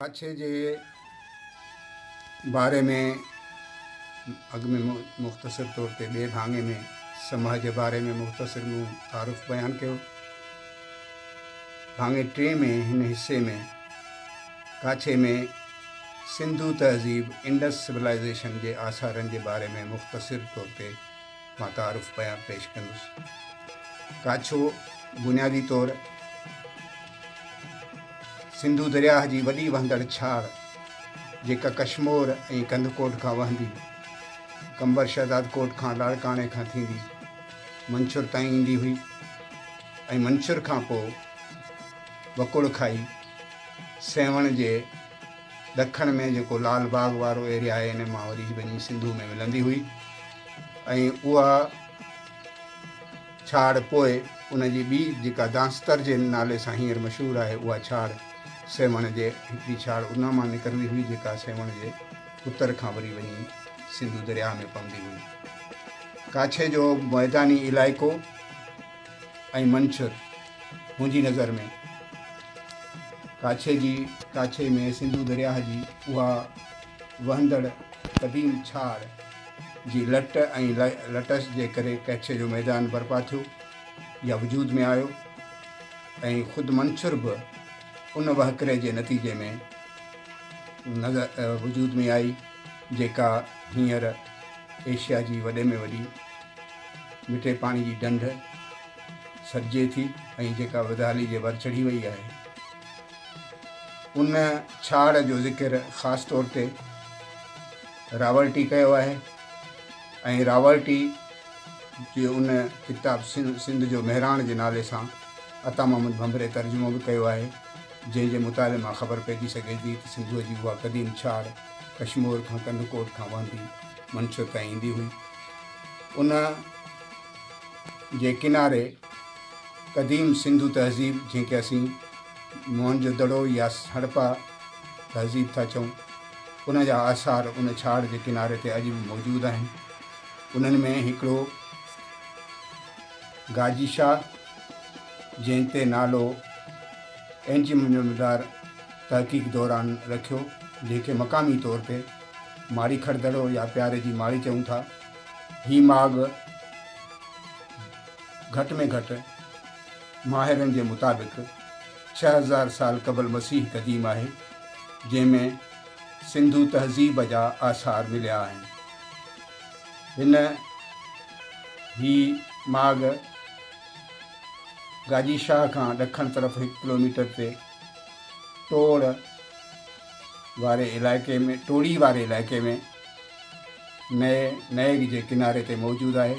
ڪڇ جي باري ۾ اڳ ۾ مختصر طور تي ٻئي ڀاڱي ۾ سماء جي باري ۾ مختصر مون تعارف بيان ڪيو. ڀاڱي ٽئين ۾ هن حصي ۾ ڪاڇي ۾ سنڌو تهذيب، انڊس سولائيزيشن، جي آثارن جي باري ۾ مختصر طور تي مان تعارف پيا پيش ڪندس. ڪاڇو بنيادي طور سنڌو درياهه جي وڏي وهندڙ ڇاڙ جيڪا ڪشمور ۽ ڪنڌڪوٽ کان وهندي قمبر شهدادڪوٽ کان لاڙڪاڻي کان ٿيندي منڇر تائين ايندي هئي ۽ منڇر کان پوء وڪوڙ کائي سيوهڻ جي ڏکڻ ۾ جيڪو لال باغ وارو ايريا آهي ان مان وري وڃي سنڌو ۾ ملندي هئي ۽ اها ڇاڙ پوء ان جي ٻي جيڪا دانستر جي نالي سان هينئر مشهور آهي اها ڇاڙ سيوهڻ جي هڪڙي ڇاڙ ان مان نڪرندي هئي جيڪا سيوهڻ جي اتر کان وري وڃي سنڌو درياهه ۾ پوندي هئي ڪاڇي جو ميداني علائقو ۽ منڇر منهنجي نظر ۾ ڪاڇي جي ڪاڇي ۾ سنڌو درياهه جي اها وهندڙ قديم ڇاڙ جي لٽ ۽ لٽس جي ڪري ڪاڇي جو ميدان برپا ٿيو يا وجود ۾ آيو ۽ خود منڇر به ان وهڪري جي نتيجي ۾ نظر وجود ۾ آئي جيڪا هينئر ايشيا جي وڏي ۾ وڏي مٺي پاڻي جي ڍنڍ سڏجي ٿي ۽ جيڪا وڌالي جي ور چڙهي وئي آهي. ان ڇاڙهه جو ذڪر خاص طور تي راولٽي ڪيو آهي ۽ راولٽي جي ان ڪتاب سنڌ جو مهراڻ جي نالي سان عطا محمد ڀنڀري ترجمو به ڪيو آهي، جنهن جي مطالعي مان خبر پئجي سگهي ٿي ته سنڌوء جي اها قديم ڇاڙهه ڪشمور کان ڪنڌڪوٽ کان وهندي منڇ تائين ايندي هئي. ان جي ڪناري قديم سنڌو تهذيب جنهن کي اسين موهن جو دڙو يا هڙپا تهذيب ٿا چئون ان جا آثار ان ڇاڙ جي ڪناري تي اڄ به موجود آهن. انهن ۾ هڪڙو گاجي شاهه جنهن تي نالو اينجممدار تحقيق دوران رکيو جنهن کي مقامي طور تي ماڙي کڙ دڙو يا پياري جي ماڙي چئون ٿا. هي ماڳ گهٽ ۾ گهٽ ماهرن جي مطابق ڇهه هزار سال قبل مسيح قديم آهي، جنهن ۾ سنڌو تهذيب جا آثار مليا آهن. هن هي ماڳ گاجي شاهه کان ڏکڻ طرف هڪ ڪلوميٽر تي ٽوڙ، واري علائقي ۾ ٽوڙي واري علائقي ۾ نئي نئيگ جي ڪناري تي موجود آهي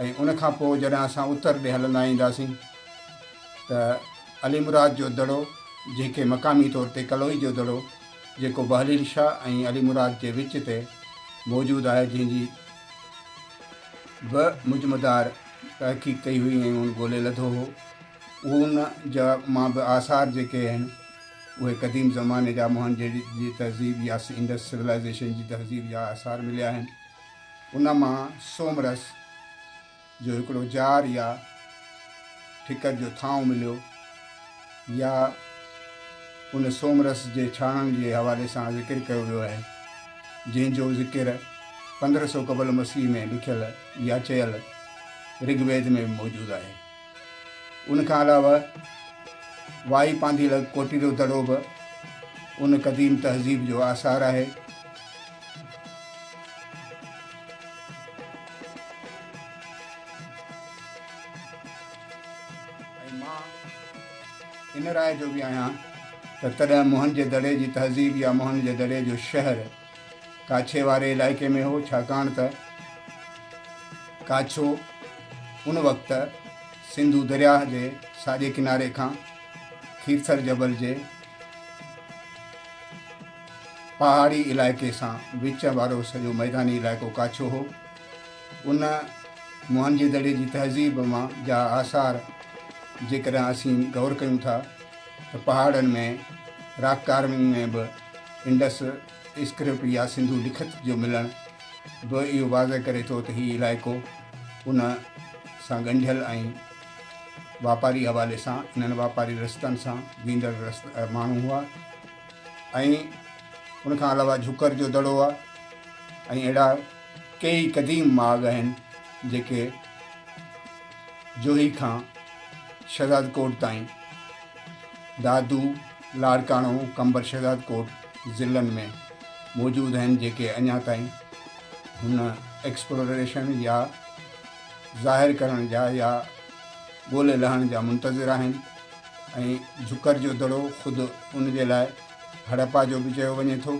۽ ان کان پوء جڏهن اسان اتر ڏي هلندا اينداسين ته علي مراد جو دڙو جنهن کي مقامي طور تي ڪلوئي جو دڙو جيڪو بهليل شاهه ۽ علي مراد جي وچ تي موجود آهي جنهن جي به مجمدار تحقيق ڪئي هئي ۽ هن ڳولي لڌو هو ان جا مان به آثار جيڪي آهن اهي قديم زماني جا موهن جي جي تهذيب يا انڊس سولائيزيشن جي تهذيب جا آثار مليا آهن. ان مان سومرس جو هڪڙو جار يا ٺڪر جو ٿانو مليو يا ان سومرس جي ڇاڻڻ جي حوالي سان ذڪر ڪيو ويو آهي جنهن جو ذڪر پندرهن سو قبل مسيح ۾ لکيل يا چيل رگ ويد ۾ به موجود آهي. ان کان علاوه وائي پانڌي لڳ ڪوٽي جو دڙو به ان قديم تهذيب جو آثار آهي. ۽ مان ان راء جو به آهيان ته تڏهن موهن جي دڙي جي تهذيب يا موهن جي دڙي جو شهر، ڪاڇي واري علائقي ۾ هو، ڇاڪاڻ ته ڪاڇو ان وقت سنڌو درياهه جي ساڄي ڪناري کان کيرٿر جبل جي پهاڙي علائقي سان وچ وارو سڄو ميداني علائقو ڪاڇو هو. ان موهنجي دڙي جي تهذيب مان جا آثار جيڪڏهن اسين غور ڪيون ٿا ته پهاڙن ۾ راڪ ڪارونگ ۾ به انڊس اسڪرپٽ يا سنڌو لکت جو ملڻ به اهو واضح ڪري ٿو ته هي علائقو ان سان ڳنڍيل ۽ واپاري حوالي سان انهن واپاري رستن سان ويندڙ ماڻهو هئا ۽ ان کان علاوه جھڪر جو دڙو آهي ۽ اهڙا ڪيئي قديم ماڳ آهن جيڪي جوهي کان شهزاد ڪوٽ تائين، دادو، لاڙڪاڻو، قمبر شهزاد ڪوٽ ضلعن ۾ موجود آهن جيڪي اڃا تائين هن ايڪسپلوريشن يا ظاهر ڪرڻ جا يا ڳولي لهڻ جا منتظر آهن ۽ جھڪر جو دڙو خود ان جي لاء هڙپا جو به چيو وڃي ٿو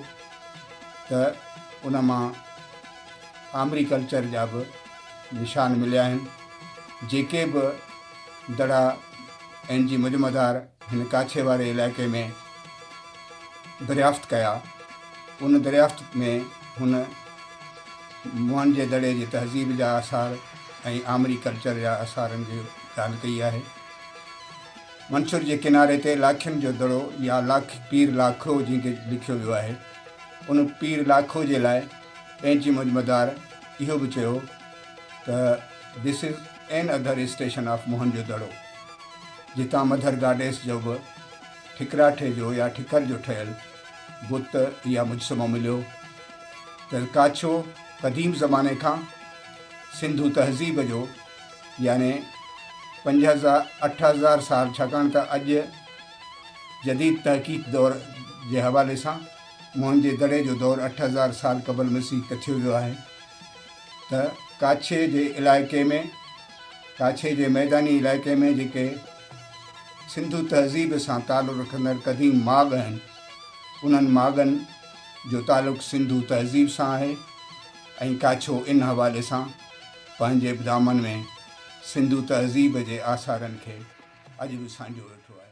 ته ان مان آمري ڪلچر جا به نشان مليا آهن، جيڪي به دڙا اين جي مجمعدار هن ڪاڇي واري علائقي ۾ دريافت ڪيا، ان دريافت ۾ هن موهنجي دڙي جي تهذيب جا آثار ۽ آمري ڪلچر جا آثارن جي ڳالهه ڪئي آهي. منڇر جي ڪناري تي لاکين جو دڙو يا لاک پير لاکو جنهن کي لکيو ويو آهي، ان پير لاکو جي لاء پينچي مجمدار اهو به چيو ته This is an other station of Mohenjo دڙو جتان مڌر گاڊيس جو به ٺڪراٺي جو يا ٺڪر جو ٺهيل بت يا مجسمو مليو ته ڪاڇو قديم زماني کان سنڌو تهذيب جو يعني پنج هزار اٺ هزار سال ڇاڪاڻ ته اڄ جديد تحقيق دور جي حوالي سان موهن جي دڙي جو دور اٺ هزار سال قبل مسيح ڪٿيو ويو آهي ته ڪاڇي جي علائقي ۾ ڪاڇي جي ميداني علائقي ۾ جيڪي سنڌو تهذيب سان تعلق رکندڙ قديم ماڳ آهن انهن ماڳن جو تعلق سنڌو تهذيب سان آهي ۽ ڪاڇو ان حوالي سان پنهنجي به دامن ۾ سنڌو تهذيب جي آثارن کي اڄ به سانڍيو ويٺو آهي.